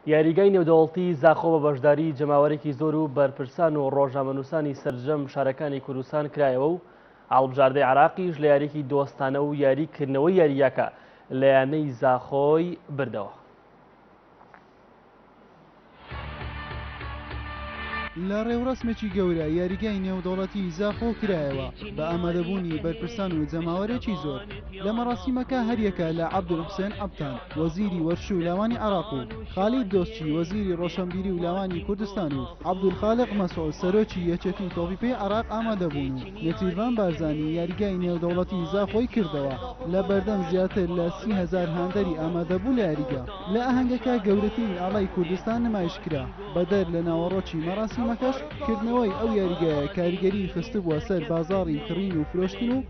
یاریگای نێودەوڵتی زاخۆ بە بەشداری جەماوەرێکی زۆر و بەرپرسان و ڕۆژنامەنووسانی سەرجەم شارەکانی کوردستان کرایەوە و هەڵبژاردەی عێراقیش لە یاریکی دۆستانە و یاری کردنەوەی یاریگاکە لە یانەی زاخۆی بردەوە. لە ڕێوڕەسمێکی گەورە یاریگای نێودەوڵەتی زاخۆ کرایەوە بە ئامادەبوونی بەرپرسان و جەماوەرێکی زۆر. لە مەڕاسیمەکە هەریەکە لە عەبدولحسێن عەبتان، وەزیری وەرش و لاوانی عێراق و خالید دۆستچی، وەزیری ڕۆشەنبیری و لاوانی کوردستان و عەبدولخالق مەسعود، سەرۆکی یەکێتیی تۆپیپێی عێراق ئامادە بوون و نێچیرڤان بارزانی یاریگای نێودەوڵەتیی زاخۆی کردەوە لە بەردەم زیاتر لە سی هەزار هاندەری ئامادەبوو لە یاریگا. لە ئاهەنگەکە گەورەترین ئاڵای کوردستان نمایش کرا، بەدەر لە ناوەڕۆکی مەڕاسیمەکەش کردنەوەی ئەو یاریگایە کاریگەریی خستبووە سەر بازاڕی کڕین و فرۆشتن و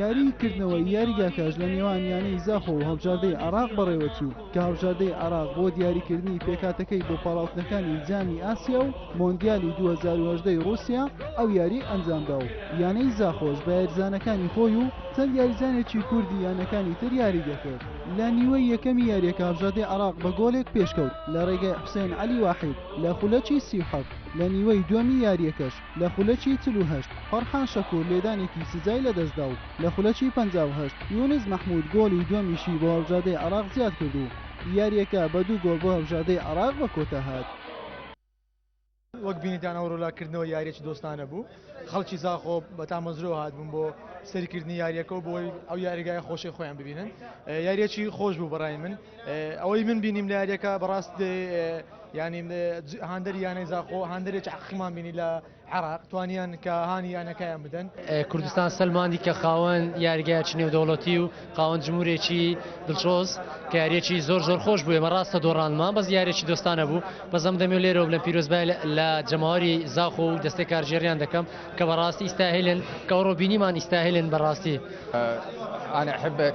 یاریی کردنەوەی یاریگاکەش لە نێوان یانەی زاخۆ و هەڵبژاردەی عێراق بەڕێوەچوو، کە هەڵبژاردەی عێراق بۆ دیاریکردنی پێکهاتەکەی بۆ پاڵاوتنەکانی جامی ئاسیا و مۆندیالی دوو هەزار و هەژدە ی ڕووسیا ئەو یارییەی ئەنجامدا و یانەی زاخۆش بە یاریزانەکانی خۆی و چەند یاریزانێکی کوردی یانەکانی تر یارییدەکرد. لە نیوەی یەکەمی یارییەکە هەڵبژاردەی عێراق بە گۆڵێک پێشکەوت لە ڕێگای حوسێن عەلی واحید لە خولەکی سی و حەفت، لە نیوەی دووەمی یارییەکەش، لە خولەکی چل و هەشت فەرحان شەکور لێدانێکی سزای لەدەستدا و لە خولەکی پەنجا و هەشت یونس مەحمود گۆڵی دووەمیشی بۆ هەڵبژاردەی عێراق زیادکرد و یارییەکە بە دوو گۆڵ بۆ هەڵبژاردەی عێراق بە کۆتا هات. وەک بینیتان ئەو رۆلا کردنەوە یاریەکی دۆستانە بوو خەڵکی زاخۆ بە تامەزرۆ هاتبوون بۆ سەیرکردنی یاریەکە و بۆی ئەو یاریگای خۆشی خۆیان ببینن یاریەکی خۆش بوو بەڕای من. ئەوەی من بینیم لە یاریەکە بەڕاست ینی هاندەر یانەی زاخۆ هاندەرێک عقیمان بینی لە عراق توانیان کە هاانی یانەکەیان بدەن کوردستان سلماندی کە خاوەن یاریگای چنێ و دەوڵەتی و خاوەن جمهورێکی دڵچۆز کاریێکی زۆر زۆر خۆش بووێ مەڕاستە دۆڕانمان بەس یاریێکی دۆستانە بوو بەزەم دەمێ لێرە بلە پیرۆزبای لە جەماوەری زاخۆ و دەستێک کارژێریان دەکەم کە بەڕاستی ئیستاهلن کەەوە ڕۆبینیمان ئیستاهلن بەڕاستی. أنا أحبك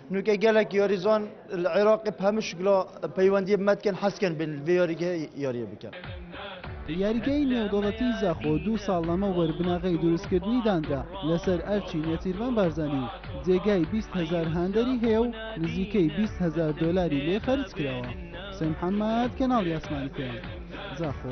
نوکە گەلەک یۆریزۆن عێراقی پەمش گلۆ پەیوەندی بمەتکەن حەسکەن بن یۆریگە یۆریە بکەن. یاریگای نێودەوڵەتی زاخۆ دوو ساڵ لەمەوبەر بناغەی دروستکردنی دانرا لەسەر ئەرکی نێچیرڤان بارزانی و جێگای بیست هەزار هاندەری هەیە و نزیکەی بیست هەزار دۆلاری لێ خەرج کراوە. حوسێن محەممەد، کەناڵی ئاسمانی پێنج، زاخۆ.